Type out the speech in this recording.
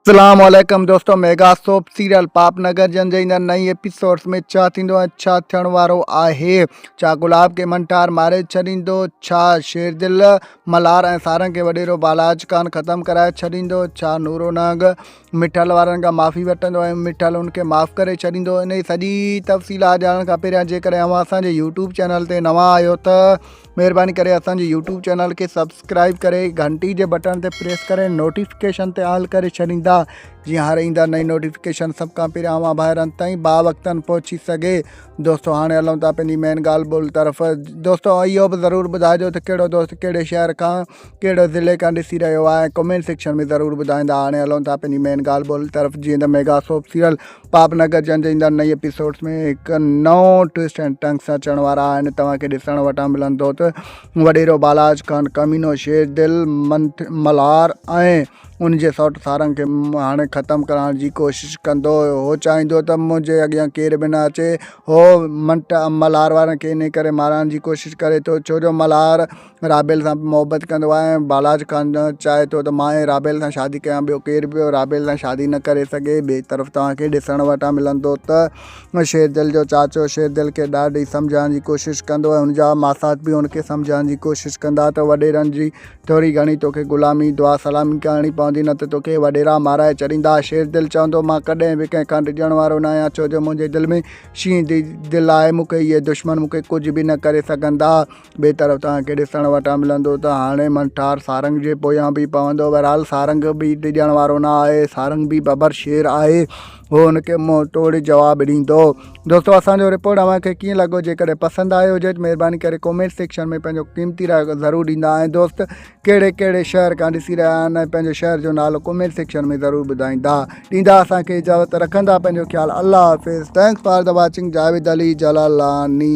اسلام عليڪم دوستو mega soap serial Pop Nagar جن جي ايندڙ نئين ايپيسوڊز ۾ ڇا ٿيندو ۽ ڇا ٿيڻ وارو آهي ڇا گلاب کي منٽار ماري ڇڏيندو ڇا شيردل ملهار ۽ سارنگ کي وڏيرو بالاج کان ختم ڪرائي ڇڏيندو ڇا نورو نهنگ مٺل وارن کان معافي وٺندو ۽ مٺل ان کي معاف ڪري ڇڏيندو انهي سڄي تفصيلات ڄاڻڻ کان پهريان جيڪڏهن اوهان اسان جي يوٽيوب چينل تي نوان آهيو ته مھرباني ڪري اسان جي يوٽيوب چينل کي سبسڪرائب ڪري گھنٽي جي بٽڻ تي پريس ڪري نوٽيفڪيشن تي آل ڪري ڇڏيندا جيئن ھر ايندڙ نئين نوٽيفڪيشن سڀ کان پھريان اوھان ڀائرن تائين با وقتاً پھچي سگھي دوستو ھاڻي ھلون ٿا پنھنجي مين ڳالھ ٻولھ طرف دوستو اھو به ضرور ٻڌائجو ته ڪھڙو دوست ڪھڙي شھر کان ڪھڙو ضلعي کان ڏسي رھيو آھي ڪمينٽ سيڪشن ۾ ضرور ٻڌائيندا ھاڻي ھلون ٿا پنھنجي مين ڳالھ ٻولھ طرف جيئن ته mega soap serial Pop Nagar جن جي ايندڙ نئي ايپيسوڊز ۾ هڪ نئون ٽوسٽ اينڊ ٽنگ سان اچڻ وارا آهن توهان کي ڏسڻ وٽان ملندو ته وڏيرو بالاج خان ڪمينو شير دل ملهار ۽ ان جي سوٽ سارنگ کي هاڻي ختم ڪرائڻ جي ڪوشش ڪندو هو چاهيندو ته منهنجي اڳيان ڪير به نه اچي هو منٽ ملهار وارن کي انهي ڪري مارائڻ جي ڪوشش ڪري ٿو ڇو جو ملهار رابيل سان به محبت ڪندو آهي ۽ بالاچ خان چاهي ٿو ته مان ئي رابيل سان شادي ڪيان ٻيو ڪير به رابيل سان شادي نه ڪري سگهي ٻئي طرف توهان کي ڏسڻ وٽان ملندو ته شيردل جو چاچو شيردل کي ڏاڍي سمجهائڻ جي ڪوشش ڪندو ۽ هن جا ماسات به هن کي سمجهائڻ جي ڪوشش ڪندا ته وڏيرن جي ٿوري گهڻي توکي غلامي دعا سلامي ڪرڻي پوندي نه ته توکي وڏيرا مارائي ڇڏيندا شيردل چوندو مان ڪڏهن به ڪنهن کان ڊڄڻ وارو نه آهيان ڇو جو منهنجي دل ۾ شينهن جي دل آهي مون کي اهي دشمن مون کي ڪجهه به نه ڪري سگهندا ٻئي طرف تان کي ڏسڻ وٽان ملندو ته هاڻي منٺار سارنگ جي پويان به پوندو. بهرحال سارنگ به ڊڄڻ وارو نه آهي. سارنگ به ببر شير آهي. هو هن کي منهن ٽوڙي جواب ڏيندو. دوستو اسان جو رپورٽ اوهان کي ڪيئن لڳو جيڪڏهن پسند آيو هجي ته مهرباني ڪري ڪومينٽ سيڪشن ۾ پنهنجو قيمتي راء ضرور ڏيندا ۽ دوست ڪهڙي ڪهڙي شهر کان ڏسي رهيا آهن ۽ پنهنجو شهر جو نالو ڪومينٽ سيڪشن ۾ ضرور ٻڌائيندا ڏيندا اسان کي اجازت رکندا پنهنجو خيال الله حافظ thanks for the watching Javed Ali Jalalani